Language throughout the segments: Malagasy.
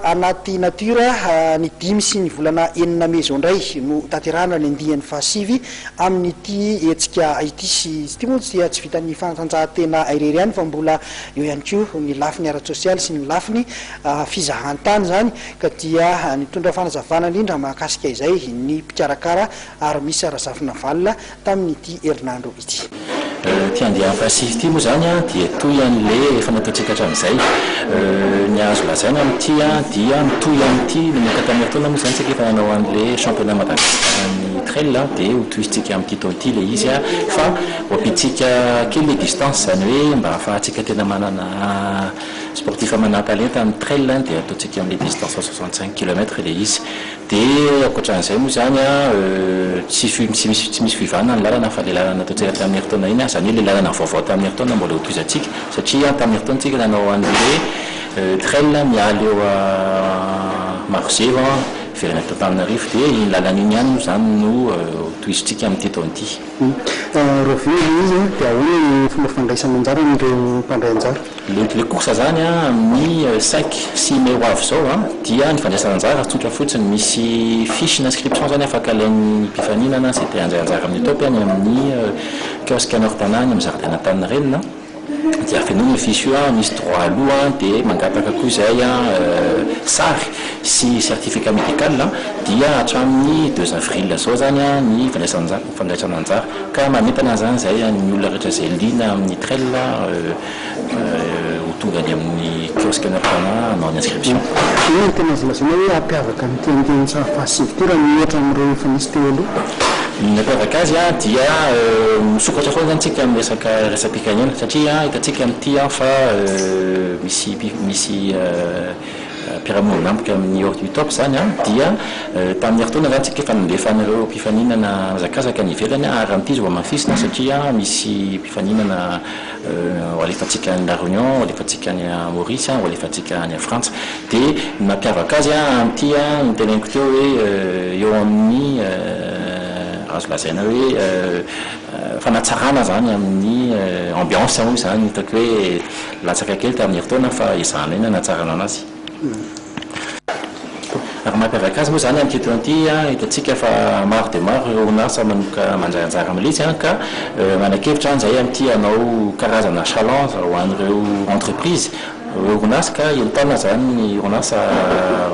anaty natiora, ny dimy sy ny volana enina mey izao indray no hotanterahana ny andiany fahasivy amin'ity hetsika ity. Sy ity moa dia tsy vitan'ny fanatanjahantena irery ihany fa mbola eo ihany koa ny lafiny ara-tsosialy sy ny lafiny fizahantany izany ka dia nitondra fanazavana indrindra mahakasika izay ny mpikarakara Armisa Razafinavalo tamin'ity herinandro ity. Ity andiany fahasivy ity moa izany dia toy an'ilay efa nataontsika hatramin'izay. Ny azo lazaina amin'ity dia mitohy amin'ity nanomboka tamin'ny herintaona moa izany isika efa nanao an'ilay championnat Madagasikaran'ny trail dia ho tohizintsika amin'ity taona ity ilay izy fa ho ampiantsika kely ilay distance izany hoe mba hahafahantsika tena manana sportif manan-talenta amin'ny trail dia ataontsika amin'ilay distance soixante cinq kilomètres ilay izy. Dia ankoatran'izay moa izany tsy tsy misy fivanana ny lalana fa ilay lalana nataontsika tamin'ny herintaona iny, izany hoe ilay lalana vaovao tamin'ny herintaona mbola hotohizantsika satria tamin'ny herintaona isika nanao an'ilay hoe trail miala eo Marozevo miverina aty Antananarivo dia iny lalana iny ihany moa izany no hotohizantsika amin'ity taona ity. Rahoviana ilay izy dia ahoana ny fomba fandraisana anjara amin'ireo mpandray anjara? Mety le kosa zany an amin'ny cinq, six mai ho avy zao an dia ny fandraisana anjara tsotra fotsiny, misy fiche n'inscription zany afaka alain'ny mpifaninana izay te handray anjara amin'ny Top any amin'ny kiosque an'i Orpana any amin'ny zaridaina Antaninarenina dia afenoina io fiche io an, misy droit à loup an dia mangataka koa izay an sary sy certificat médical an dia hatramin'ny deux avril zao zany an ny fandraisana anjara fandraisana anjara ka manentana zany izay ny olona rehetra izay liana amin'ny trail ho tonga any amin'ny kiosque na mpanahy hanao ny inscription. Inona no tena azo lazaina hoe hampiavaka an'ity andian-tsaha fahasivy ity raha miohatra amin'ireo efa nisy teo aloha? Ny nampiavaka azy dia misokatra foana izany isika amin'ny resaka resa-pikanena satria hitantsika amin'ity fa misy misy mpiara-monina amiko amin'ny Ordi Utop izany dia tamin'ny herintaona izany isika efa nandefa an'ireo mpifaninana nihazakazaka any ivelany ary raha mitohy izy vao hamafisina satria misy mpifaninana ho alefantsika any La Réunion, ho alefantsika any Maurice, ho alefantsika any Frantsa. Dia ny mampiavaka azy amin'ity no teneniko teo hoe eo amin'ny azo lazaina hoe fanatsarana izany amin'ny ambiance moa izany, hitako hoe latsaka kely tamin'ny herintaona fa ezahana ihany ny hanatsarana an'azy. Raha mampiavaka azy moa izany amin'ity taona ity, hitantsika fa maro dia maro ireo orinasa manomboka mandray anjara mihitsy ka manakevitra an izay amin'ity hanao karazana challenge ho an'ireo entreprise, ireo orinasa ka entanina izany ny orinasa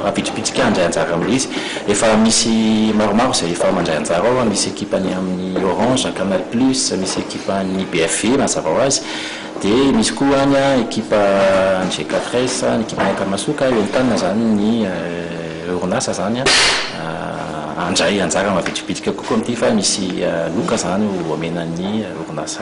ampitsopitsika handray anjara amin'izy. Efa misy maromaro izay efa mandray anjara ao, misy ekipan'ny amin'ny Orange, Canal Plus, misy ekipan'ny BFV mazava ho azy. Dia misy koa any ekipa any GKFRES, ny ekipan'ny Akamasoka, eo entanina izany ny orinasa izany handray anjara mavitribitrika kokoa amin'ity fa misy loka izany omena ny orinasa.